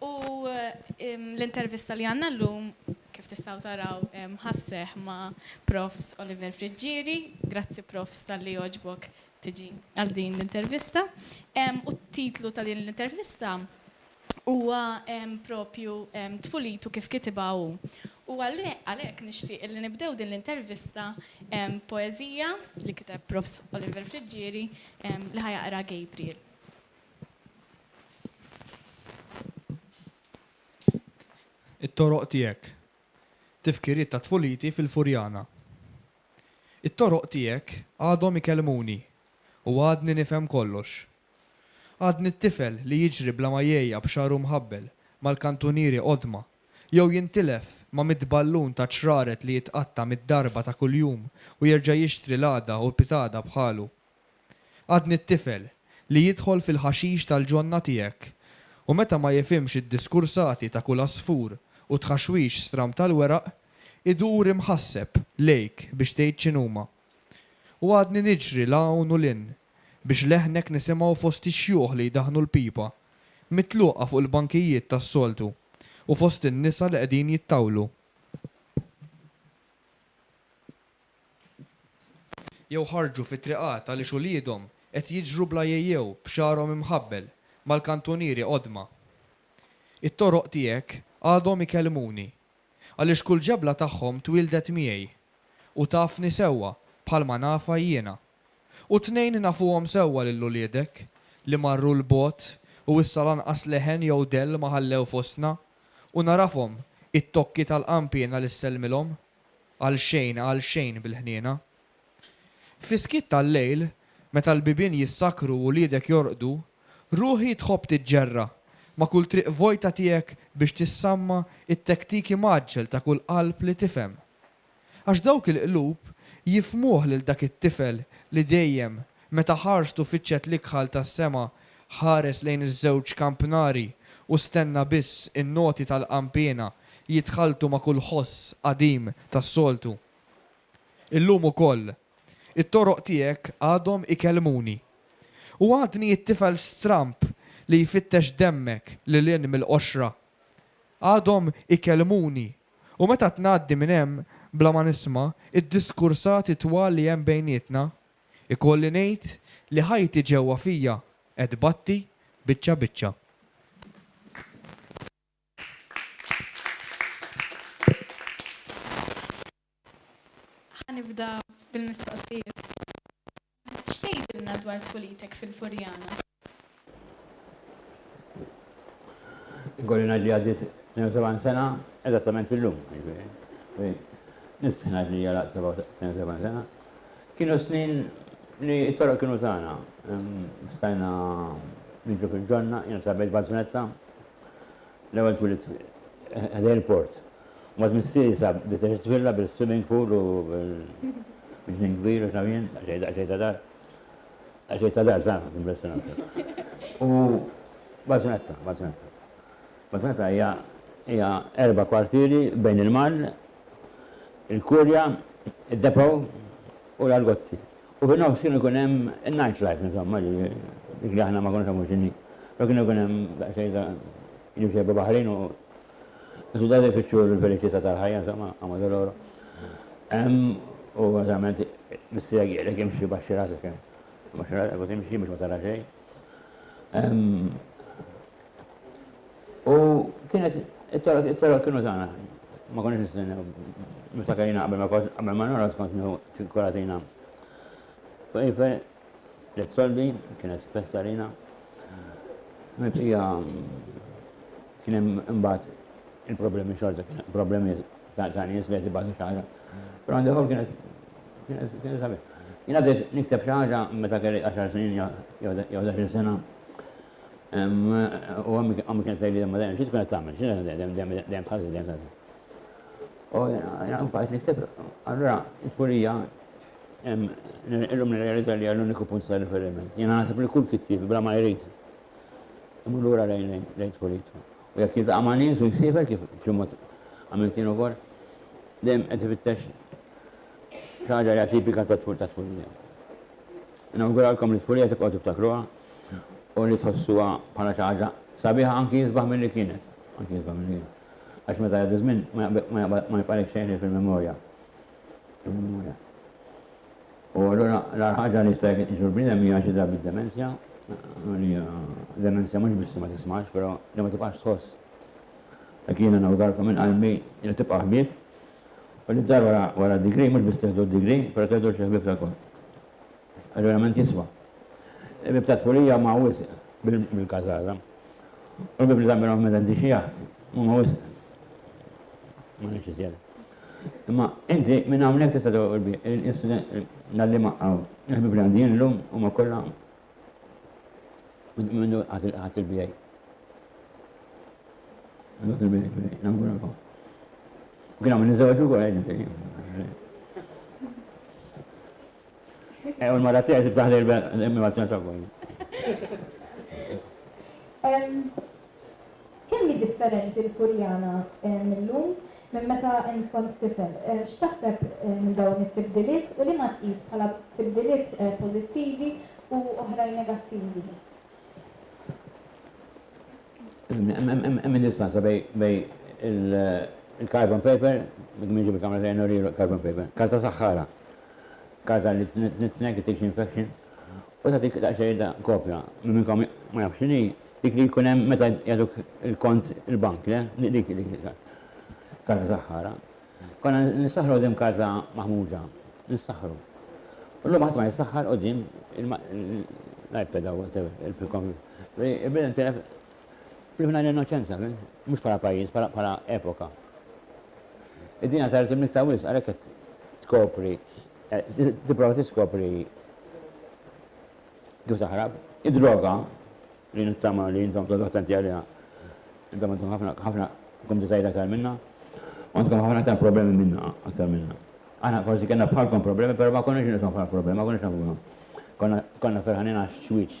U l-intervista li għandna llum, kif tistgħu taraw, ħa sseħħ ma' Profs. Oliver Friggieri. Grazzi Profs. talli għoġbok tiġi għal din l-intervista. U t-titlu ta' din l-intervista huwa propju Tfulitu kif kitibha hu. U għalhekk nixtieq li nibdew din l-intervista b'poeżija li kiteb Profs. Oliver Friggieri li ħa jaqra Gabriel. It-toroq tiegħek. Tifkiriet ta' tfuliti fil-Furjana. It-toroq tiegħek għadhom ikellmuni u għadni nifhem kollox. Għadni t-tifel li jiġri bla ma jegħja b'xagħru mħabbel mal-kantunieri qodma jew jintilef ma' mitt ballun ta' ċraret li jitqatta' mitt darba ta' kuljum u jerġa' jixtri l-għada u pitada bħalu. Għadni t-tifel li jidħol fil-ħaxix tal-ġonna tiegħek u meta ma jifhimx id-diskursati ta' kull għasfur u t-tħaxwix stram tal-weraq, idur imħasseb lejk biex tgħid x'inhuma. U għadni niġri 'l hawn u 'l hinn biex leħnek nisimgħu fost ix-xjuħ li jdaħħnu l-pipa, mitluqa fuq il-bankijiet tas-soltu, u fost in-nisa li qegħdin jittawlu. jew ħarġu fit-triqat għaliex uliedhom qed jiġru bla jejjew b'xagħarhom imħabbel mal-kantunieri qodma. It-toroq tiegħek għadhom ikellmuni, għaliex kull ġebla tagħhom twieldet miegħi, u tafni sewwa bħalma nafha jiena. U t-tnejn nafuhom sewwa lil uliedek, li marru 'l bogħod u issa lanqas leħen jew dell ma ħallew fostna, u narafhom it-tokki tal-qanpiena li ssellmilhom. għal xejn, għal xejn bil-ħniena. Fis-skiet tal-lejl, meta l-bibien jissakru u wliedek jorqdu, ruħi tħobb tiġġerra ma' kull triq vojta tiegħek biex tissamma t-tektiki mgħaġġel ta' kull qalb li tifhem. Għax dawk il-qlub jifhmuh lil dak it-tifel li dejjem Meta ħarstu fiċċet l-ikħal tas-sema, ħares lejn iż-żewġ kampnari u stenna biss in-noti tal-qanpiena jitħalltu ma' kull ħoss qadim tas-soltu. Illum ukoll, it-toroq tiegħek għadhom ikellmuni. U għadni t-tifel stramb li jfittex demmek lil hinn mill-qoxra. Għadhom ikellmuni u meta tngħaddi minn hemm bla ma nisma' d-diskursati twal li hemm bejnietna, Ikolli ngħid li ħajti ġewwa fija qed tbatti biċċa biċċa. Ħa nibda bil-mistoqsijiet. X'tgħidilna dwar tfulitek fil-Furjana? Ikolli ngħid li għaddiet 72 sena eżattament illum, jiġifieri. Nistħi ngħid li għalaq 72 sena. Kienu snin li t-toroq kienu tagħna. Stajna niġu fil-ġonna, jiena trabejt Bazzunetta, l-ewwel twilit ħdej il-port. Mbagħad missieri sab bdiet tifilla bil-swimming pool u bil-ġnien kbir u x'naf jien, xejn ta' dar. Għaxi ta' dar zaħna, impressionanti. U Baġnazza, Baġnazza. Baġnazza hija hija erba' kwartieri bejn il-mar, il-kurja, id-depow u l-argozzi. U fin nofs kienu kun hemm night life, insomma, dik li aħna ma konniex hemm x'inhi. Kienu kun hemm xejn ta' jimxejba baħrin u Is-sudanifiċċju u l-verità tal-ħajja, insomma, għamlu l-oro. Hemm u eżament missija għielek imxi baxxi rasek hemm. Baxxi rasek u timxi biex ma tara xejn. U kienet it-toro kienu tagħna. Ma konniex nistennew. Meta kajna qabel ma qabel ma nora skont nieħu ċinkolatina. U Tliet soldi, kienet festa għalina. Mibqija kien hemm imbagħad il-problemi xorta, problemi ta' nies li qed ibatu xaħra. Però għandi ħol kienet kienet sabiħ. Jiena bdejt nikteb xi ħaġa meta kelli 10 snin jew 11 sena. U għammi kienet tgħidli ma dejjem xi tkun qed tagħmel, xi dejjem dejjem dejjem dejjem U jena bajt niktib, allura il-furija illum nirrealizza li għall-uniku punt ta' riferiment. Jena nasib li kull kittieb bla ma jrid imur lura lejn lejn tfuritu. U jekk jiltaqa' ma' nies u jsifer kif b'xi mod għamilt jien ukoll, dejjem qed ifittex ħaġa li tipika ta' tfur ta' tfurija. Nawguralkom li tfurija tibqgħu tiftakruha u li tħossuha bħala xi ħaġa sabiħa anki jisbaħ milli kienet, anki jisbaħ milli kienet. għax meta jgħaddi ż-żmien ma jibqalek xejn ħlief il-memorja. Il-memorja. U allura l-għar ħaġa li jista' jkun l-bniedem hija xi drabi demenzja, demenzja mhux biss ma tismax, però li ma tibqax tħoss. Dak jiena nawgarkom minn qalbi li tibqa' ħbieb u li dar wara d-digri mhux biss tieħdu d-digri, però tieħdu xi ħbieb tal-kont. Verament jiswa. Il-bieb tat-tfulija huma wisq bil-każara. U l-bieb li tagħmilhom medenti xi jaħt huma wisq. Ma ngħidx iżjed. Imma inti minn hawnhekk tista' tagħlaq il-bieb, l-għalliema hawn. Il-ħbieb li għandi jien illum huma kollha minnu ħadt il-BA. Ħadt il-BA, nawguralkom. Kien hawn niżżewġ ukoll għidni fejn. Ew il-mara tiegħi tibdaħ li l-immaġna ta' bojn. Kemm hi differenti l-Furjana mill-lum minn meta int kont tifel? X'taħseb minn dawn it-tibdiliet u liema tqis bħala tibdiliet pożittivi u oħrajn negattivi? Hemm id-distanza bejn il-carbon paper, minn ġibi kamra ta' jennu rieħlu carbon paper, karta saħħara. kawża li tneħħi tissue infection u tagħtik daqsxejn ta' kopja. Min minnkom ma jafx x'inhi, dik li jkun hemm meta jagħtuk il-kont il-bank, le? Dik il-kawża saħħara. Konna nissaħħru quddiem kawża maħmuġa. Nissaħħru. Illum ħadd ma jissaħħar quddiem l-iPad jew whatever, il-computer. Imbagħad intilef Tlifna l-innoċenza, mhux bħala pajjiż, bħala epoka. Id-dinja saret imnitta wisq għalhekk qed tkopri, tipprova tiskopri kif taħrab. Id-droga li nittama li intom todu attenti għaliha. Intom għandkom ħafna ħafna kumditajiet aktar minna, għandkom ħafna aktar problemi minna aktar minna. Aħna forsi kena bħalkom problemi, pero ma konniex nisom bħal problemi, ma konniex nafuhom. Konna ferħanin għax xwiċ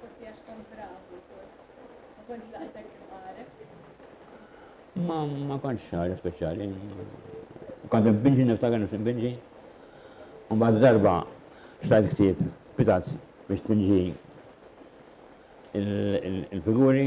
Forsi għax kont bravu wkoll. Ma kontx daqshekk imqareb. Ma ma kontx ħaġa speċjali. Kont binġi niftakar nifsi binġi. U mbagħad darba xtajt ħsieb pitazz biex tinġi il-figuri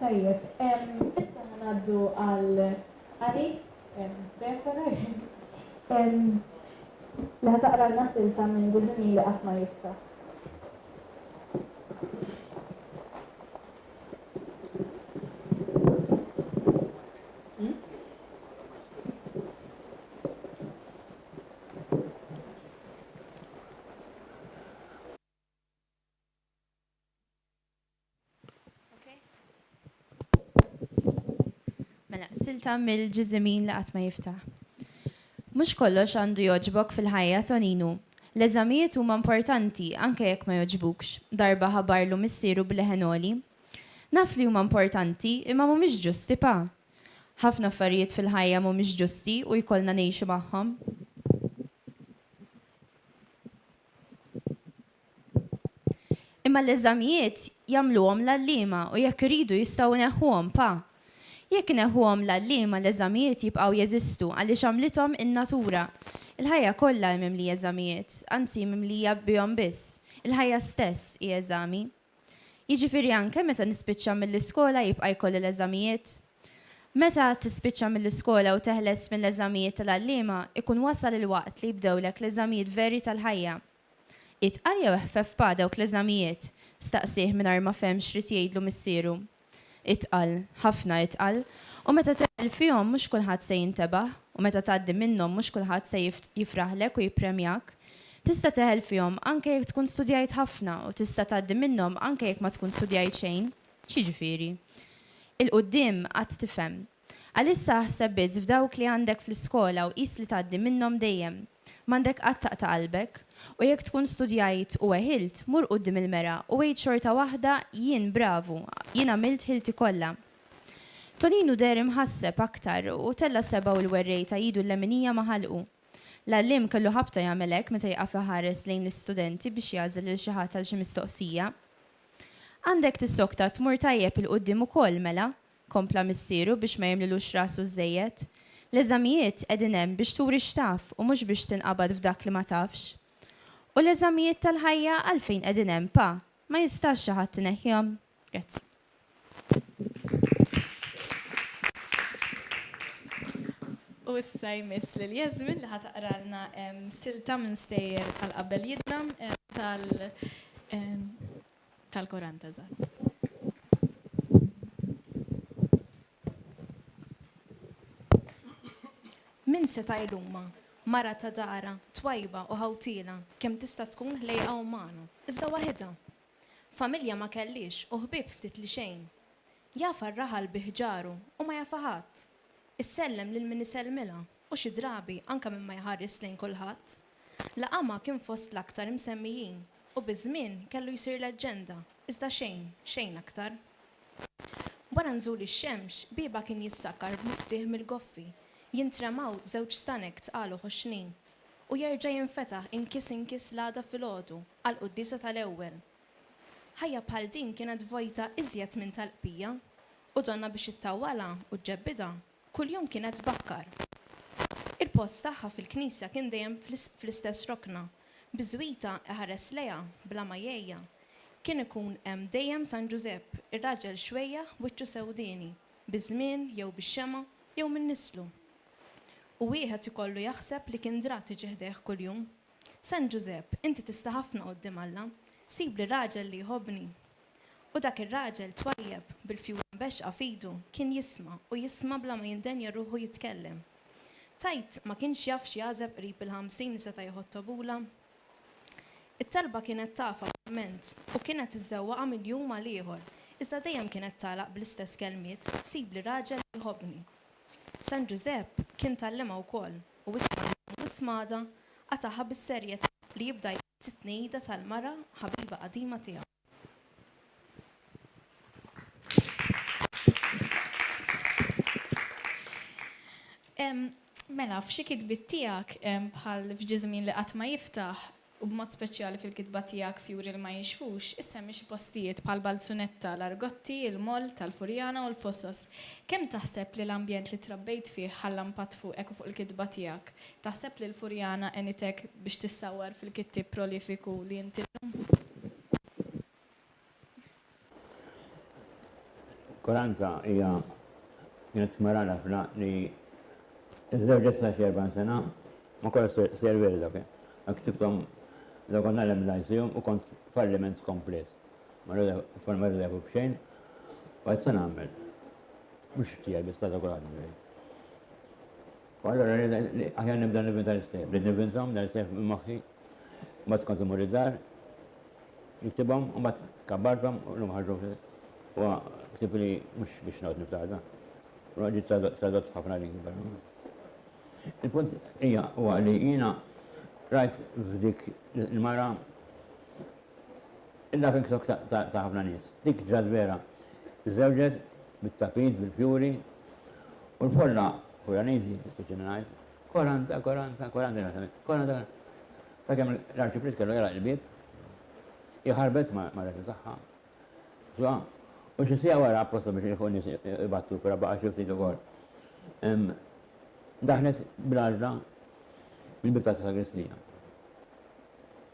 Tajjeb, issa ħa ngħaddu għal Annie Seferer li ħa taqralna silta minn Diżinji li qatt ma jibka. Mela, silta mill-ġiżimin li qatt ma jiftaħ. Mhux kollox għandu jogħġbok fil-ħajja Toninu. L-eżamijiet huma importanti anke jekk ma jogħġbukx, darba ħabarlu missieru b'leħen għoli. Naf li huma importanti imma mhumiex ġusti pa. Ħafna affarijiet fil-ħajja mhumiex ġusti u jkollna ngħixu magħhom. Imma l-eżamijiet jagħmluhom l-għalliema u jekk iridu jistgħu jneħħuhom pa. Jekk ineħħuhom l-għalliema l-eżamijiet jibqgħu jeżistu għaliex għamlithom in-natura. Il-ħajja kollha hi mimlija eżamijiet, anzi mimlija bihom biss. Il-ħajja stess hi eżami. Jiġifieri anke meta nispiċċa mill-iskola jibqa' jkolli l-eżamijiet? Meta tispiċċa mill-iskola u teħles mill-eżamijiet tal-għalliema, ikun wasal il-waqt li jibdewlek l-eżamijiet veri tal-ħajja. Itqal jew ħfeffa dawk l-eżamijiet? staqsieh mingħajr ma fehm x'ried jgħidlu missieru. Itqal, ħafna itqal. U meta tegħel fihom mhux kulħadd se jintebaħ, u meta tgħaddi minnhom mhux kulħadd se jifraħlek u jippremjak. Tista' tegħel fihom anke jekk tkun studjajt ħafna u tista' tgħaddi minnhom anke jekk ma tkun studjajt xejn. X'jiġifieri? Il-quddiem għad tifhem. Għalissa aħseb biss f'dawk li għandek fl-iskola u qis li tgħaddi minnhom dejjem. M'għandek qatt taqta' qalbek. U jekk tkun studjajt u weħilt, mur quddiem il-mera u għid xorta waħda, Jien bravu, jien għamilt ħilti kollha. Toninu deher imħasseb aktar u tella' sebgħu l-werrejta idu l-leminija ma' ħalqu. L-għalliem kellu ħabta jagħmel hekk meta jieqaf iħares lejn l-istudenti biex jagħżel lil xi ħadd għal xi mistoqsija. Għandek tissokta tmur tajjeb 'il quddiem ukoll, mela! kompla missieru biex ma jimlilux rasu żżejjed. L-eżamijiet qegħdin hemm biex turi x'taf u mhux biex tinqabad f'dak li ma tafx. U l-eżamijiet tal-ħajja għalfejn qegħdin hemm, Pa? Ma jistax xi ħadd ineħħihom? Grazzi. U issa jmiss lil Jasmine li ħa taqralna silta minn stejjer tal-qabel jidna tal Tal-Koran ta' Zahra. Min seta' jlumha, mara ta' dara, twajba u ħawtiela, kemm tista' tkun ħlejqa u magħna, iżda waħidha. Familja ma kellhiex u ħbieb ftit li xejn. Jafha r-raħal bi ħġaru u ma jafha ħadd. Issellem lil min isellmilha. u xi drabi anke minn ma jħares lejn kulħadd. Laqamha kien fost l-aktar imsemmijin u biż-żmien kellu jsir leġġenda, iżda xejn, xejn aktar. Wara nżul ix-xemx, biebha kien jissakkar b'miftieħ mill-goffi, jintremaw żewġ stanek tqal u ħoxnin, u jerġa' jinfetaħ inkies inkies l-għada filgħodu, għall-quddiesa tal-ewwel. Ħajja bħal din kienet vojta iżjed minn tal-qbija, u donnha biex ittawwalha u ġġebbidha Kuljum kienet tbakkar. Il-post tagħha fil-knisja kien dejjem fl-istess rokna. Bi żwita iħares lejha bla ma jgħejja. Kien ikun hemm dejjem San Ġużepp, ir-raġel xwejjaħ wiċċu sewdieni, biż-żmien jew bix-xemgħa jew minn nislu. U wieħed ikollu jaħseb li kien dra tiġi ħdejh kuljum. San Ġużepp, inti tista' ħafna quddiem Alla. Sibli raġel li jħobbni. U dak ir-raġel twajjeb, bil-fjura mbexxqa f'idu, kien jisma', u jisma' bla ma jindenja ruħu jitkellem. Tgħid ma kienx jaf x'jagħżeb qrib il-ħamsin li seta' jieħu t-tobula? It-talba kienet tafha verament, u kienet iżżewwaqha minn jum għal ieħor, iżda dejjem kienet tagħlaq bl-istess kelmiet, Sibli raġel li jħobbni. San Ġużepp kien tgħallimha wkoll, u isma' llum u isma' għada, qatagħha bis-serjetà li jibda jgħid, t-tnejjida tal-mara ħabiba qadima tiegħu. Mela, f'xi kitbiet tiegħek, bħal f'Ġie Żmien li Qatt Ma Jiftaħ, u b'mod speċjali fil-kitba tiegħek Fjuri li Ma Jinxfux, issemmi xi postijiet bħal Balzunetta, l-Argotti, il-Moll tal-Furjana u l-Fosos. Kemm taħseb li l-ambjent li trabbejt fih ħalla mpatt fuqek u fuq il-kitba tiegħek? Taħseb li l-Furjana għenitek biex tissawwar fil-kittieb prolifiku li int illum? Koranza hija kienet smara l-afra li żewġet sa xerban sena ma kollha serveri dak. Ktibtom da kont nagħlem l-ICU u kont falliment komplet. Ma rredefu b'xejn. Għajt se nagħmel. Mhux tiegħi biss ta' kulħadd U allura aħjar nibda nivvinta l-istejjer. Bdejt nivvinthom dan l-istejjer minn moħħi, mbagħad kont immur id-dar, niktibhom u mbagħad kabbarthom u llum ħarġu huwa ktieb li mhux biex noqgħod niftaħda. Huwa ġiet tradott f'ħafna lingwi. Il-punt hija huwa li jiena rajt f'dik il-mara Il-Laughing Stock ta' ħafna nies. Dik ġrat vera. Żżewġet bit-tapit bil-fjuri u l-folla Furaniżi, dispiċini ngħid, koranta, koranta, koranta kienet tagħmel, koranta, koranta. Sakemm l-Arċipriet kellu jagħlaq il-bieb, hi ħarbet mar-reġa tagħha, ġo, u xi siegħa wara apposta biex jilħqu n-nies ibattu, però baqa' xi ftit ukoll. Daħlet bil-għaġla mill-bieb tas-sagristija.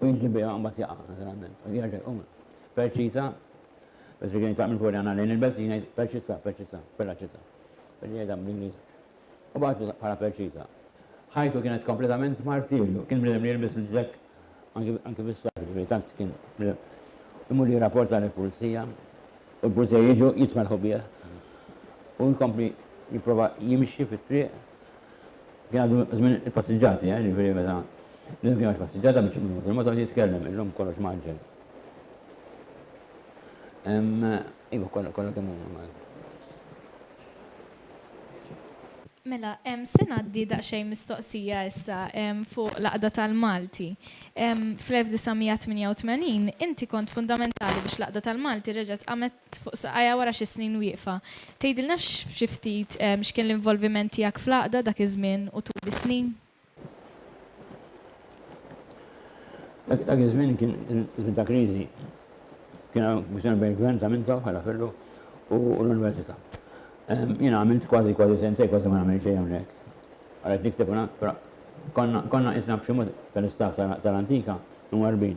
u jinġli biha mbagħad jaqa' naturalment u jerġa' jqum. Perċita, biex tiġi jitlaq minn fuq jagħna lejn il-belt jien jgħid perċita, perċita, perraċita. Biex jgħidha bl-Ingliż. U bagħtu bħala perċita. Ħajtu kienet kompletament martirju, kien bniedem li jilbis il-ġekk anki bis-sar, ġifieri tant kien imur jirrapporta lill-pulizija u l-pulizija jiġu jitmelħu bih u jkompli jipprova jimxi fit-triq Jgħaddu żmien il-passiġġati, eh, jiġifieri meta l-lum kien ma passiġġata biex ikun fuq il-motor jitkellem, illum kollox mgħaġġel. Iva, kollha kollha kemm huma. Mela, se ngħaddi daqsxejn mistoqsija issa fuq l-Għaqda tal-Malti. Fl-1988 inti kont fundamentali biex l-Għaqda tal-Malti reġgħet qamet fuq saqajha wara xi snin wieqfa. Tgħidilna xi ftit x'kien l-involviment tiegħek fl-Għaqda dak iż-żmien u tul is-snin? Dak iż-żmien kien żmien ta' kriżi. Kien hawn kwistjoni bejn il-Gvern ta' minn ta' bħala Firru u l-Università. Jiena għamilt kważi kważi sentejn kważi ma nagħmel xejn hawnhekk. Ara qed nikteb u naqra. Konna qisna b'xi mod tal-istaff tal-Antika mwarrbin.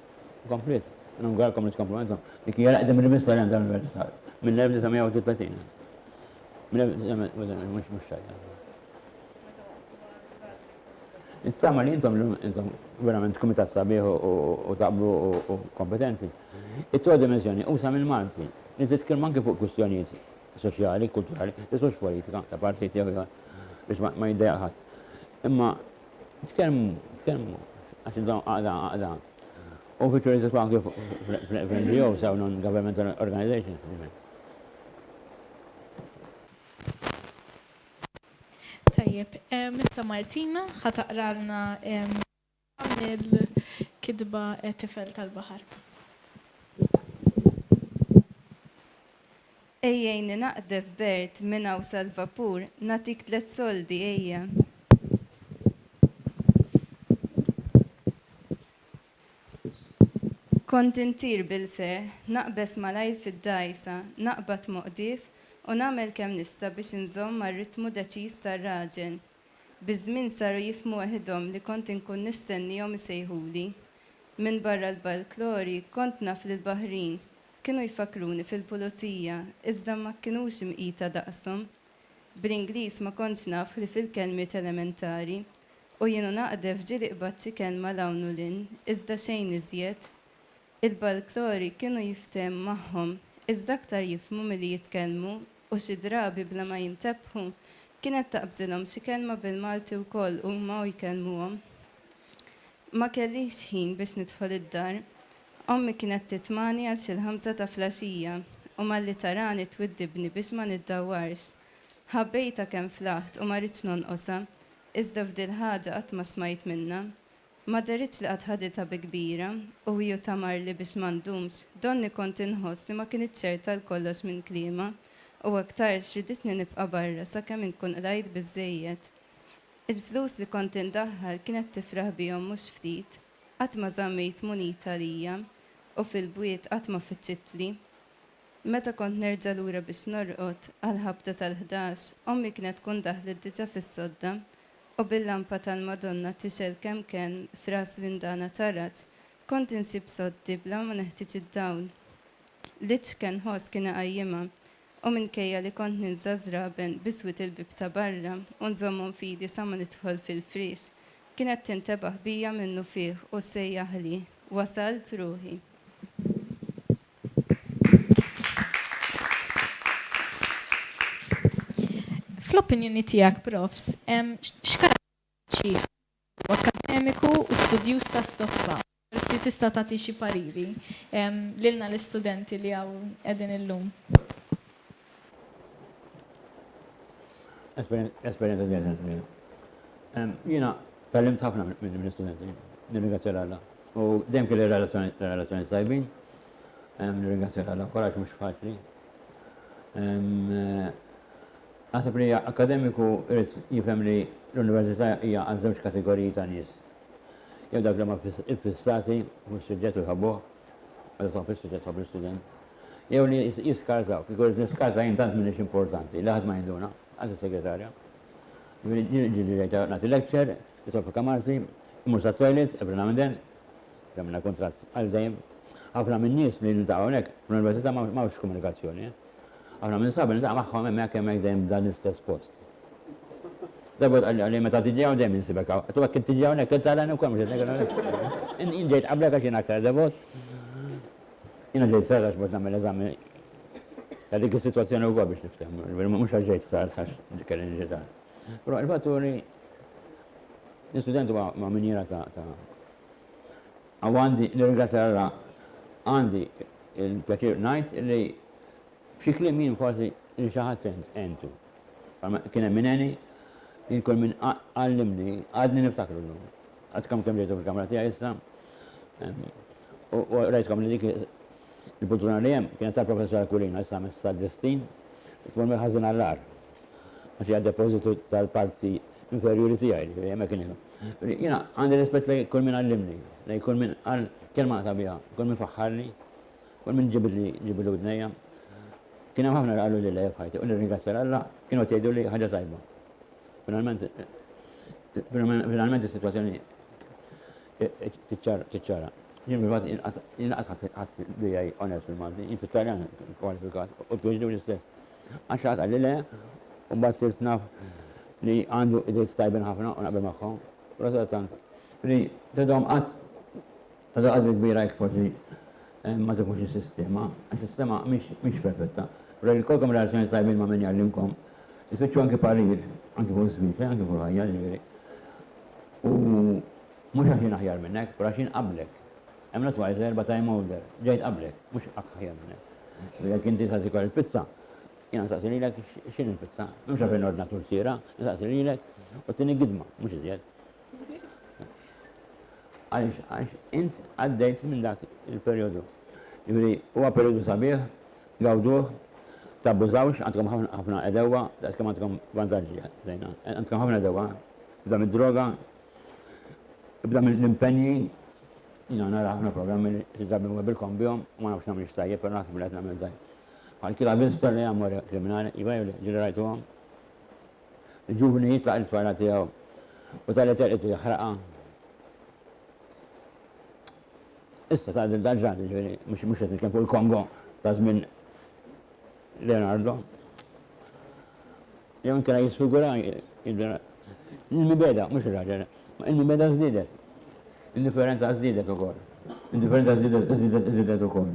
Kompliet, inawguralkom li tkomplu intom. Dik hija l-aqdem rivista li għandha l-Univers Sar, mill-1931. Mill-1931, mhux tajjeb. Nittama li intom intom verament kumitat sabiħ u taqblu u kompetenti. It-tiegħu dimensjoni usa mill-Malti li titkellmu anke fuq kwistjonijiet soċjali, kulturali, isux politika ta' partit jew biex ma jiddejaq ħadd. Imma Tkellmu, tkellmu, għax intom għaqda, għaqda. U fiċu riżitu anki fl-NGO, saw non-governmental organizations. Tajjeb, Mr. Martina, ħataqralna il-kidba tifel tal-bahar. Ejjejni naqdef Bert minn hawn sal-vapur, nagħtik tliet soldi, ejja. Kont intir bil-ferħ, naqbeż malajr fid-dgħajsa, naqbad moqdif u nagħmel kemm nista' biex inżomm mar-ritmu deċiż tar-raġel. Biż-żmien saru jifhmu weħidhom li kont inkun nistennihom isejħuli. Minbarra l-balklori, kont naf lill-baħrin. Kienu jfakkruni fil-pulizija iżda ma kinux imqita daqshom. Bl-Ingliż ma kontx naf ħlief il-kelmiet elementari u jien u naqdef ġieli qbadt xi kelma 'l hawn u 'l hinn iżda xejn iżjed. Il-balklori kienu jiftehem magħhom iżda aktar jifhmu milli jitkellmu u xi drabi bla ma jintebħu kienet taqbżilhom xi kelma bil-Malti wkoll huma u jkellmuhom. Ma kellix ħin biex nidħol id-dar. Ommi kienet titmani għal xi l-ħamsa ta' flaxija u malli tarani twiddibni biex ma niddawwarx. Ħabbejtha kemm flaħt u ma ridtx nonqosha, iżda f'dil-ħaġa qatt ma smajt minnha. Ma dehritx li qatt ħaditha bi kbira u hi u Tamarli biex ma ndumx, donni kont inħoss li ma kinitx ċerta għal kollox minn kliemha u aktarx riditni nibqa' barra sakemm inkun qlajt biżżejjed. Il-flus li kont indaħħal kienet tifraħ bihom mhux ftit. Qatt ma żammejt munita għalija u fil-bwiet qatt ma fittxitli. Meta kont nerġa' lura biex norqod, għall-ħabta tal-ħdax, ommi kienet tkun daħlet diġà fis-sodda u bil-lampa tal-Madonna tixgħel kemm kenn f'ras l-indana taraġ, kont insib soddi bla ma neħtieġ id-dawl. L-iċken ħoss kien iqajjimha. U minkejja li kont ninża' ż-żraben b'iswid il-bieb ta' barra u nżommhom f'idi sa ma nidħol fil-friex, kienet tintebaħ bija minnufih u ssejjaħli, Wasalt, ruħi! Fl-opinjoni tiegħek, Profs, x'karatteristiċi għandu akademiku u studjuż ta' stoffa? Forsi tista' tagħti xi pariri lilna l-istudenti li hawn qegħdin illum. Esperjenza żieda kbira. Jiena tgħallimt ħafna mill-istudenti, nirringrazzja 'l Alla. U dejjem kelli relazzjonijiet tajbin, nirringrazzja 'l Alla wkoll għax mhux faċli. Naħseb li akkademiku jrid jifhem li l-università hija għal żewġ kategoriji ta' nies, jew dawk li huma iffissati fuq is-suġġett u jħobbuh, għadu tħobb is-suġġett, tħobb l-istudent, jew li jiskarżaw, kieku rrid niskarża jien tant m'iniex importanti, li ħadd ma jinduna, anki s-segretarja. Ġieli ġejta nagħti lecture, nidħol fil-kamarti, immur sat-toilet, every now and then, għamilna kuntratt għal dejjem. Ħafna min-nies li niltaqgħu hawnhekk fl-università m'hawnx komunikazzjoni. Eh? Aħna minn sabiħ niltaqa' magħhom hemmhekk hemmhekk dejjem f'dan l-istess post. Darba wieħed qalli qalli meta tiġi hawn dejjem insibek hawn. Qed u hekk int tiġi hawnhekk int tarani wkoll mhux hekk? Jien ġejt qablek għax jien aktar devot. Jiena ġejt sar għax biex nagħmel eżami ta' dik is-sitwazzjoni wkoll biex nifhem, mhux għax ġejt sar għax kelli niġi sar. Però il-fatt hu li l-istudent huwa ma' minjiera ta' Hawn għandi l-Ingilterra għandi l-pjaċir ngħid li b'xi kliem jien kważi lil xi ħadd għentu. Bħalma kien hemm min għeni, jien kull min għallimni għadni niftakru llum. Għadkom kemm ġejtu fil-kamra tiegħi issa u rajtkom li dik il-pultruna li hemm kienet tal-Professor Aquilina issa messa Destin tmur mill-ħażin għall-agħar. Għax hija depożitu tal-parti inferjuri tiegħi, jiġifieri hemmhekk inhi. Jiena għandi rispett lejn kull min għallimni, lejn kull min qal kelma sabiħa, kull min faħħarni, kull min ġibidli ġibidlu widnejja. Kien hemm ħafna li qalu li le f'ħajti u nirringrazzja lil Alla kienu qed jgħidu li ħaġa tajba. Finalment finalment is-sitwazzjoni tiċċara. Jien fil-fatt inqas ħadd bija onest fil-Malti, jien fit-Taljan kwalifikat u biex l-istess. Għax xi ħadd qalli le, u mbagħad sirt naf li għandu ideat tajbin ħafna u naqbel magħhom. Però sadattant, li tidhom qatt tagħti qadri kbira jekk forsi ma tifhmux is-sistema, għax is-sema mhix perfetta. Però jekk ikollkom relazzjonijiet tajbin ma' min jgħallimkom, ifittxu anki parir, anki fuq iż-żwieġ, eh, anki fuq il-ħajja, jiġifieri. U mhux għax jien aħjar minnek, però għax jien qablek. Hemm lok twice erba' time holder. Ġejt qablek, mhux akk aħjar minn hekk. U jekk inti sa tikol il-pizza, jiena nsaqsi lilek x'inhi l-pizza. M'hemmx għalfejn nordna turtiera, insaqsi lilek u tieni gidma, mhux iżjed. Għaliex? Għax int għaddejt minn dak il-perjodu. Jiġifieri huwa perjodu sabiħ, gawduh, tabbużawx, għandkom ħafna ħafna għedewwa daqs kemm għandkom vantaġġi. Għandkom ħafna għedewwa, f'dan id-droga, Ibda mill-impenji, jiena nara ħafna programmi li drabi ma bilkom bihom u ma nafx nagħmilx tajjeb, però naħseb li qed nagħmel tajjeb. Bħal chi l'ha visto lei amore kriminali, iva jew le, ġieli rajtuhom? Il-ġuvni jitlaq it-tfajla tiegħu u tali telqit jaħraqha. Issa ta' din tal-ġrad, ġifieri, mhux qed nitkellem fuq il-Kongo ta' żmien Leonardo, Jan kera jisfigura il-mibeda, mhux ir-raġel, ma il-mibeda żdiedet. Indifferenza żdiedet ukoll. Indifferenza żdiedet żdiedet ukoll.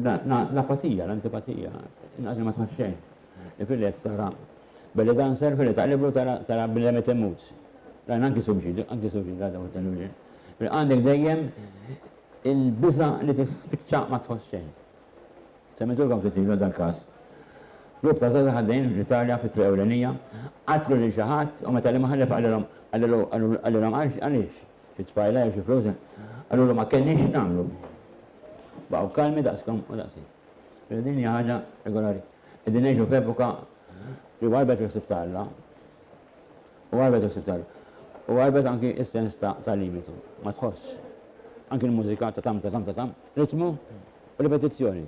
L-apatija, l-antipatija, inqas ma tħass xejn. Fil-lett sara belli danser fil-lett taqliblu tara bnedem qed imut. Dan anki suġġid, anki suġġid għadha u t-tenwil. Għandek dejjem il-biża' li tispiċċa ma tħoss xejn. Semmejtulkom ftit ilu dal-każ. Grupp ta' żgħażagħ għaddejjin fl-Italja fi triq ewlenija, qatlu lil xi ħadd u meta l-imħallef qalilhom qallilu qalilhom għal għaliex? Xi tfajla jew xi flus? Qalulu ma kellniex x'nagħmlu. Baqgħu kalmi daqskom u daqsi. Mela din hija ħaġa regolari. Qegħdin ngħixu f'epoka li warrbet il-ħsieb ta' Alla. U għarbet il-ħsieb tal. U għarbet anki s-sens ta' ta' limitu. Ma tħossx. Anki l-mużika ta' tam ta' tam ta' tam, ritmu u ripetizzjoni.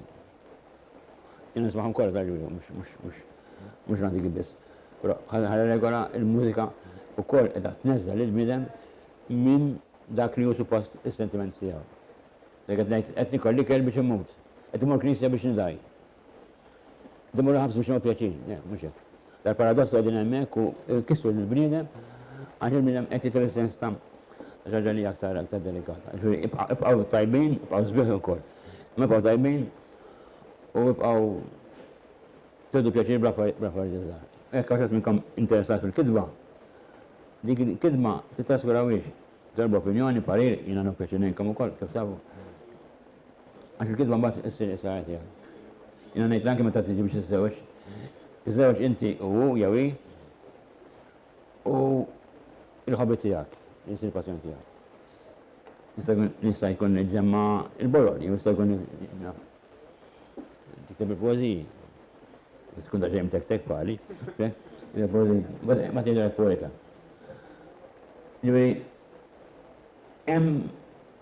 Jien nismagħhom kollha ta' Ġulju, mhux mhux mhux mhux l-antiki biss. Però ħalla regola il-mużika wkoll qiegħda tneżżel lill-bniedem minn dak li hu suppost is-sentiments tiegħu. Jekk qed ngħid qed nikol l-ikel biex immut, qed immur knisja biex nidgħi, Din morru ħabs biex nagħmlu pjaċir, le, mhux hekk. Dal-paradoss qegħdin hemmhekk u kisru lill-bniedem għax il-bniedem qed jitlu sens ta' ġaġa li aktar aktar delikata. Ġifieri ibqgħu tajbin, ibqgħu sbieħ ukoll. Ma ibqgħu tajbin u ibqgħu tedu pjaċir bl-affarijiet żgħar. Hekk għax minnkom interessat fil-kitba, dik il-kitba titraskurawhiex. Darba opinjoni, parir, jiena nopjaċir ngħinkom ukoll, kif tafu. Għax il-kidba mbagħad issir issa qed jgħid. Jiena ngħidla anke meta tiġi biex iżżewġ. Iżżewġ inti u hu jew hi u l-ħobit tiegħek li jsir passjoni tiegħek. Nista' jkun niġġemma' l-boroli, jew jista' jkun tikteb il-poeżiji. Tkun ta' ġejm tek-tek bħali. Ma tgħidilek poeta. Ġifieri hemm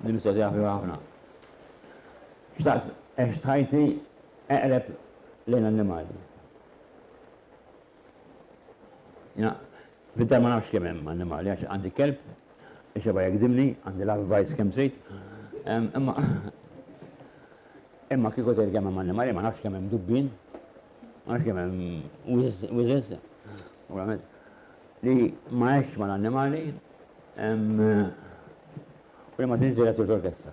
Din mistoqsija ħfifa ħafna. Xtaqt għext ħajti eqreb lejn annimali. Jina, fid-dar ma nafx kemm hemm annimali, għax għandi kelb, ixeba jekdimni, għandi love bites kemm trid. Imma imma kieku tgħid kemm hemm annimali, ma nafx kemm hemm dubbin, ma nafx kemm hemm wiżes, li ma għexx mal-annimali, Kull ma tinġiel qed ġiet orkestra.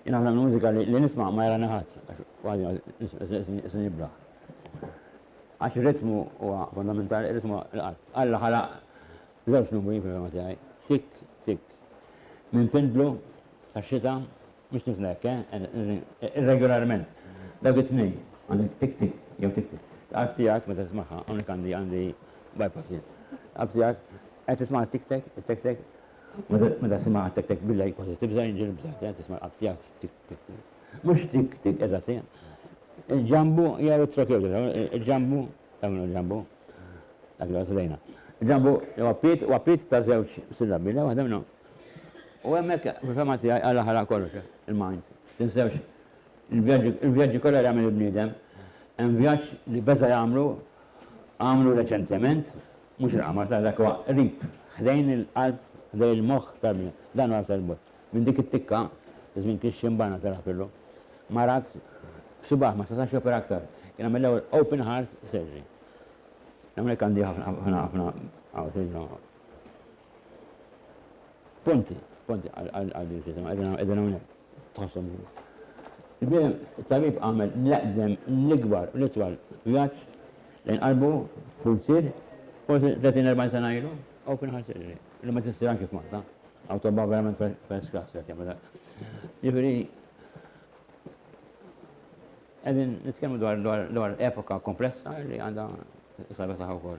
Jien ħafna mill-mużika li nisma' ma jarani ħadd, kważi isni nibla. Għax ir-ritmu huwa fondamentali, ir-ritmu l-qalb. Alla ħalaq żewġ numri fil-fehma tiegħi, tik, tik. Minn pindlu tax-xita Mhux tifla hekk, eh? Irregolarment. Dawk it-tnejn. Għandek tik tik jew tik tik. L-qalb tiegħek meta tismagħha, hawnhekk għandi għandi bypass jien. L-qalb tiegħek qed tisma' tik tek, tek tek. Meta tisma' tek tek billej kważi tibża' jinġil bża' qed tisma' l-qalb tiegħek tik tik tik. Mhux tik tik eżatt hija. Il-ġambu hija retrokewt, il-ġambu tagħmlu l-ġambu. Dak li għasdejna. Il-ġambu huwa piet huwa piet ta' żewġ sillabi, la waħda minnhom. U hemmhekk, fil-fehma tiegħi, Alla ħalaq kollox, il-mind. Tinsewx, il-vjaġġi kollha li għamel il-bniedem, hemm vjaġġ li beża' jagħmlu, għamlu reċentement, mhux il-qamar, ta' dak huwa qrib, ħdejn il-qalb, ħdejn il-moħħ tal-bniedem. Dan huwa aktar 'l bogħod. Minn dik it-tikka, iż-żmien kien xi mbanna ta' Rapillu, marad b'subaħ ma setax jopera aktar. Kien għamel l-ewwel open heart surgery. L-Amerikan di ħafna ħafna ħafna Ponti, ponti, għaddi l-kitema, għedin għonek, tħassom ġu. Bim, tabib għamel l-eqdem l-ikbar u l-itwal vjaċ lejn qalbu pulzir, forse 30-40 sena ilu, open heart surgery, li ma t-sir anki f'Malta, autoba verament first class, għet jgħamil dak. Ġifiri, għedin nitkellmu dwar epoka komplessa li għanda sabetaħu kol.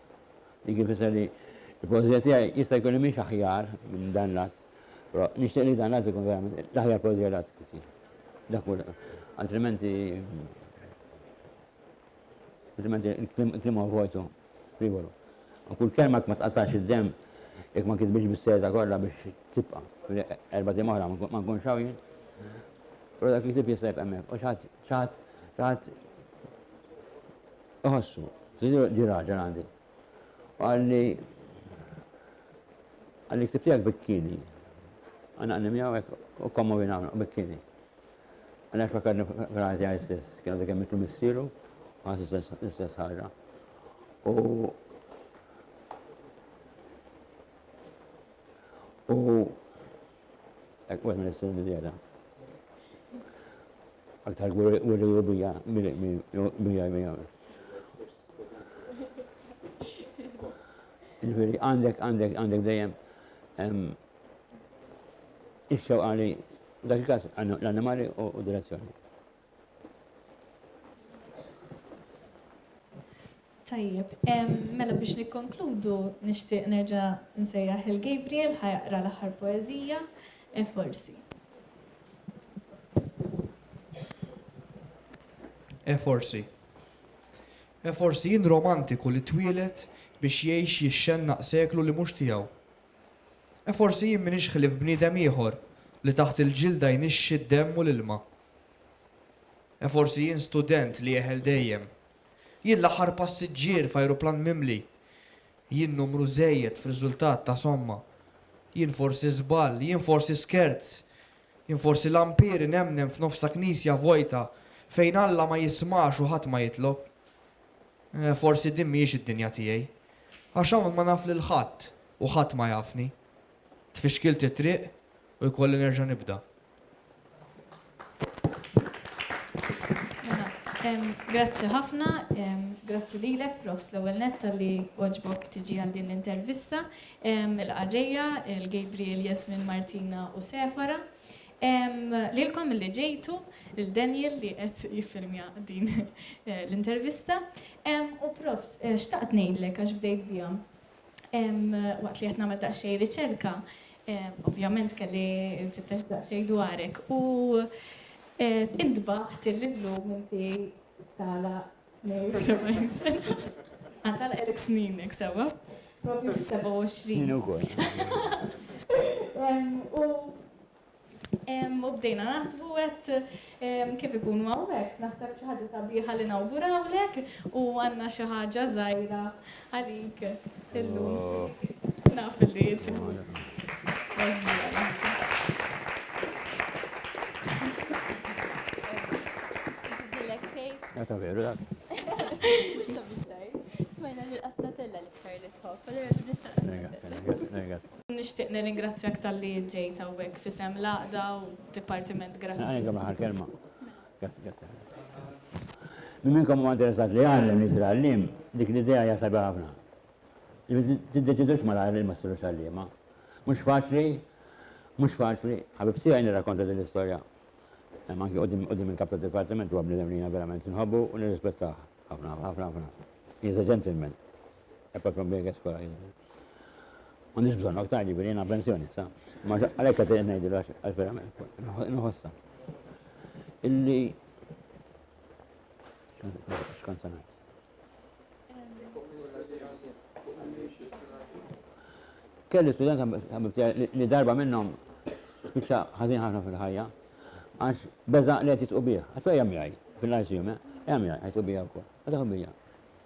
Dik ifisser li l-poeżija tiegħi jista' jkun li mhix aħjar minn dan l-att, però nixtieq li dan l-att ikun verament l-aħjar poeżija li qatt ktibtha. Dak hu altrimenti altrimenti il-kliem huwa vojtu frivolu. U kull kelma jekk ma tqattax id-demm jekk ma kitbitx bis-seta kollha biex tibqa' erba' tim oħra ma nkunx hawn jien. Però dak li ktib jista' jibqa' hemmhekk u xi ħadd xi ħadd xi ħadd Iħossu, ġie raġel għandi u qalli, Qalli l-ktieb tiegħek bikkini. Għanaqni miegħu hekk u kkommovina hawn bikkini. Għalhekk fakkarni fil-ħajja tiegħi stess, kien għadu kemm mitlu missieru, ħass l-istess ħaġa. U u Hekk wieħed ma jistax iżjeda. Aktar gwirriju bija bija bija. Ġifieri għandek għandek għandek dejjem ix-xewqa li dak il-każ l-annimali u direzzjoni. Tajjeb, mela biex nikkonkludu nixtieq nerġa' nsejjaħ il Gabriel ħajaqra l-aħħar poeżija, e forsi. E forsi. E forsi jien romantiku li twielet biex jgħix jixxennaq seklu li mhux tiegħu. E forsi jien minix ħlif bniedem ieħor li taħt il-ġilda jnixxi d-demm u l-ilma. E forsi jien student li jeħel dejjem. Jien l-aħħar passiġġier f'ajruplan mimli. Jien numru żejjed f'riżultat ta' somma. Jien forsi żball, jien forsi skerz. Jien forsi lampir inemmnem f'nofs ta' knisja vojta fejn Alla ma jismax u ħadd ma jitlob. E forsi din mhijiex id-dinja tiegħi. Għax hawn ma naf lil ħadd u ħadd ma jafni. Tfixkilt it-triq u jkolli nerġa' nibda. Grazzi ħafna, grazzi lilek prof l-ewwel nett li għoġbok tiġi għal din l-intervista. Il-qarrejja, il-Gabriel, Jasmin, Martina u Sefara. Lilkom li ġejtu, il-Daniel li qed jiffilmja din l-intervista. U prof, xtaqt ngħidlek għax bdejt biha. waqt li qed nagħmel daqsxejn riċerka, ovvjament kelli nfittex daqsxejn dwarek u intbaħt li llum inti tala Għatala elk sninek, sewa? Propju f-27. U U bdejna naħsbu għedt kif ikunu hawnhekk, naħseb xi ħaġa sabiħa li nawgurawlek u għandna xi ħaġa żgħira għalik illum. Naf li Għata veru, dak. Mux ta' bieċaj. Smajna li l-qassatella li ktar li tħof, għalli għadib nistaqqa. Nixtieq nirringrazzjak talli ġejt hawnhekk f'isem l-Għaqda u d-Dipartiment. Grazzi. Għandkom l-aħħar kelma. Grazzi, grazzi ħafna. Min minnkom huwa interessat li jgħallem, li jsir għalliem, dik l-idea hija sabiħa ħafna. Li tiddeċidux malajr li ma ssirux għalliema. Mhux faċli, mhux faċli. Ħabib tiegħi nirrakkonta din l-istorja. Hemm anki quddiem quddiem il-Kap tad-Dipartiment huwa bniedem li jiena verament inħobbu u nirrispettah ħafna, ħafna, ħafna. He is a gentleman. Apart from being escolarized. Ma nix bżonn aktar ġifieri jiena pensjoni sa. Ma għalhekk qed ngħidu għax verament nħossha. Illi x'kont ngħid. Kelli studenta li darba minnhom spiċċa ħażin ħafna fil-ħajja għax beżaq li qed jitqu bih. Għatwa jgħamjaj fil-lajsjume, jgħamjaj għajtu bija wkoll. Għadha bija.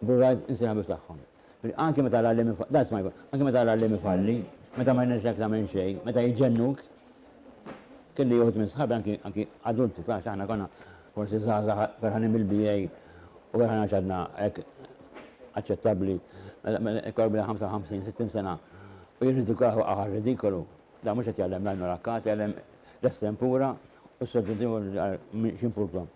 Burrard insejjaħ bi f'tagħhom. Anki meta l-għalliem ifalli, that's my point, anki meta l-għalliem ifalli, meta ma jnexxilek tagħmel xejn, meta jġennuk, kelli uħud minn sħabi anki anki adulti tafx aħna konna forsi żgħażagħ ferħanin bil-BA u ferħan għax għadna hekk aċċettabbli korbi 55-60 sena u jirridikaħu aħar ridikolu. Da mhux qed jgħallem l-għajnu rakkati, jgħallem l-estempura u s-soġġentiva x'impurtom.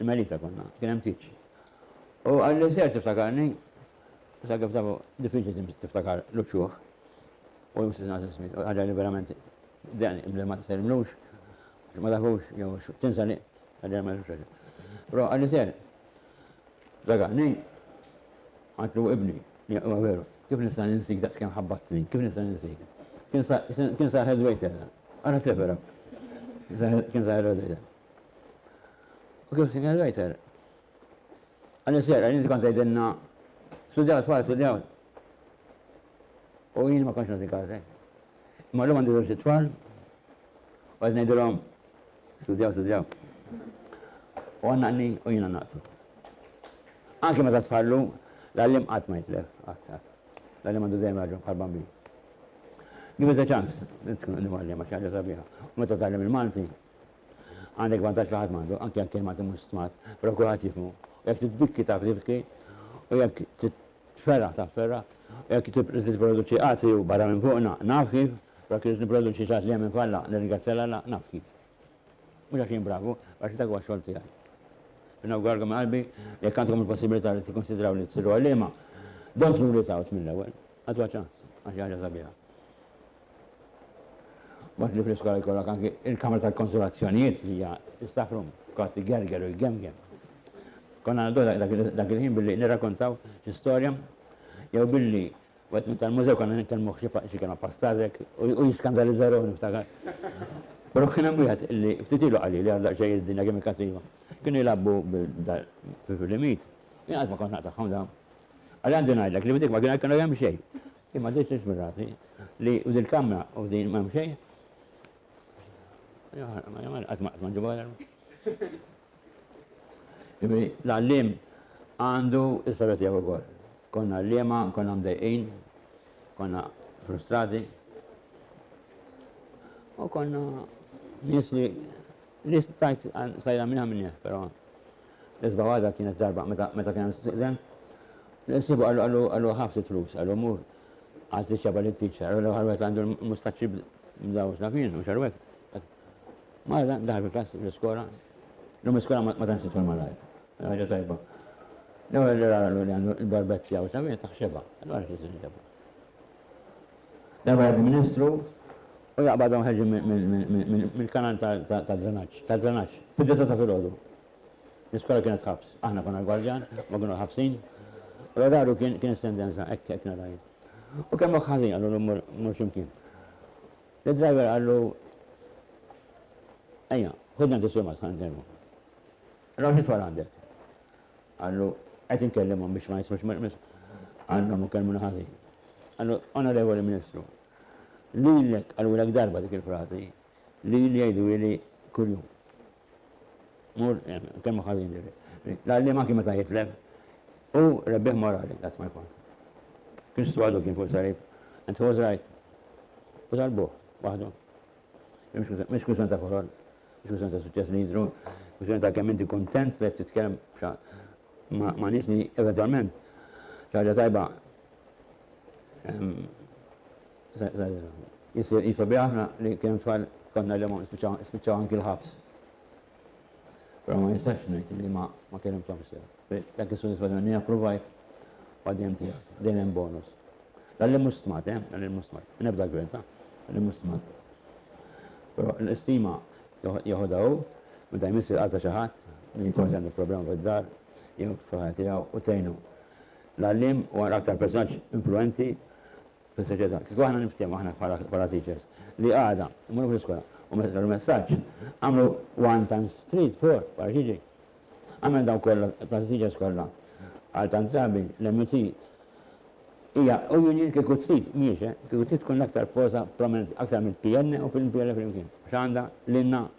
Melita konna, kien hemm tieġ. U qalli ser tiftakarni, sa kif taf diffiċli tiftakar l-uċuħ u l-Missier Nagħti Smith, ħaġa li verament dehqni bli ma tsellimlux, għax ma tafux jew tinsa li ħaġa ma jafux ħaġa. Però qalli ser tiftakarni, għatlu ibni, huwa veru, kif nista' ninsik daqs kemm ħabbatni, kif nista' ninsik. Kien sa head waiter, ara tlefera. Kien sa head waiter. U kif Sinjor Reiter? Għalli sera, għalli kont għajdinna, studjaw tfal, studjaw. U jien ma konċ nati kazi. Ma l-lum għandi zewġ tfal, u għad nejdilom, studjaw, studjaw. U għannaqni u jina naqtu. Anki ma ta' tfallu, l-għallim għat ma jitlef, għat, għat. L-għallim għandu dejjem raġun bħal bambin. Give it a chance, tkun għallim għax ħaġa sabiħa. U meta tgħallem il-Malti, Għandek vantaġġ li ħadd m'għandu, anke jekk il-Malti mhux smart, però kulħadd jifhmu. U jekk titbikki taf tibki, u jekk titferraħ taf tferraħ, u jekk trid tipproduċi għatri u barra minn fuqna, naf kif, u jekk irrid nipproduċi xi ħadd li hemm imfalla, nirringrazzja lil Alla, naf kif. Mhux għax jien bravu, għax dak huwa x-xogħol tiegħi. Nawguralkom minn qalbi li jekk għandkom il-possibilità li tikkunsidraw li tsiru għalliema, don't rule it out mill-ewwel, agħtuha ċans, għax hija ħaġa sabiħa. Waqt li fl-iskola jkollok anki il-kamra tal-konsolazzjonijiet li hija s-staff room, tqgħod tigerger u jgemgem. Konna ngħadduha dak il-ħin billi nirrakontaw xi storja jew billi wieħed minn tal-mużew konna nitkellmuh xi kelma pastazek u jiskandalizza ruħu niftakar. Però kien hemm wieħed li ftit ilu qalli li għadu daqsxejn id-dinja kemm hi kattiva. Kienu jilagħbu bil-filimijiet, jien qatt ma kont naqtagħhom dawn. Qalli għandi ngħidlek li f'dik ma kienu jkunu hemm xejn. Imma din xi żmirati li u din kamra u din m'hemm xejn. Qatt ma qatt ma ġibha Ġifieri l-għalliem għandu s-sara tiegħu wkoll. Konna għalliema, konna mdejqin, konna frustrati. U konna nies li li stajt stajna minna minni, però L-isba' waħda kienet darba meta meta kien hemm student, l-ħsiebu qallu qallu qallu ħa ftit flus, qallu mur għal tiċċa bħal it-tiċċa, qallu l-aħħar wieħed għandu l-mustaċċi bl-, bl-dawż naf jien mhux għall-wieħed. Malajr dan daħal fil-klass fl-iskola, llum l-iskola ma tantx tidħol malajr, ħaġa tajba. L-ewwel li ra qallu li għandu l-barbett tiegħu sabiħ taħsibha, allura xi se nġibha. Darba jgħaddi ministru U jaqbadhom ħerġin mill-kanal tad-drenaġġ, tad-drenaġġ, fid-disgħa ta' filgħodu. L-iskola kienet ħabs. Aħna konna l-gwardjan, huma kienu l-ħabsin. U l-oraru kien kien is-sentenza, hekk hekk nara jien. U kemm moħħ ħażin qalulu mmur mmur xi mkien. Lid-driver qallu Ejja, ħudni għand is-sur Mazħa ndermu. Raw xi tfal għandek. Qallu qed inkellimhom biex ma jismux Għandhom u kellmuna ħażin. Qallu, Onorevoli Ministru, Lilek qalulek darba dik il-frażi, lili jgħiduli kuljum. Mur hemm, kelma ħażin lili. L-għalliem anki meta jitlef, hu rebbieħ morali, that's my point. Kristu għadu kien fuq is-salib, and he was right. U talbuh, waħdu. Mhux kull santa korol, mhux kull santa suċċess li jidru, mhux santa kemm inti kuntent li qed titkellem ma' nies li eventwalment ċaġa tajba Jisir jifa bi aħna li kemm tfal konna li ma spiċċaw anki l-ħabs. Però ma jistax ngħid li ma ma kellhom ċamsa. Dak is-sodisfazzjoni li approvajt għadjem tiegħek, dejjem hemm bonus. Dan li mhux stmat, eh, dan li mhux stmat. Nebda gwir, ta? Dan li mhux stmat. Però l-istima jeħodha hu, meta jmissi l-qalta xi ħadd, min jkun għandu problema fid-dar, jew f'ħajja tiegħu u tgħinu. L-għalliem huwa l-aktar personaġġ influwenti fis-soċjetà. Kieku aħna niftehmu, aħna bħala teachers, li għada mmorru fl-iskola u meta tagħtu l-messaġġ, agħmlu one times three is four, wara x'jiġi? Għamel dawn kollha, il-class teachers kollha, għal tant drabi, l-MUT hija union kieku trid, mhijiex, eh, kieku trid tkun l-aktar forza prominenti, aktar mill-PN u mill-PL flimkien, għax għandha lilna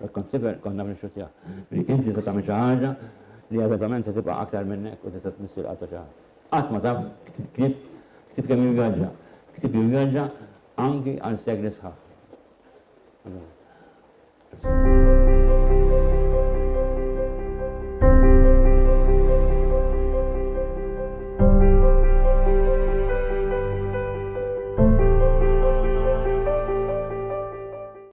But consider konna b'nixxu tiegħu. Li inti se tagħmel xi ħaġa li eżattament se tibqa' aktar minnek u tista' tmiss il-qalb ta' xi ħadd. Qatt ma taf ktib ktib, ktib kemm jivvjaġġa. Ktib jivvjaġġa anki għal sekli sħaħ.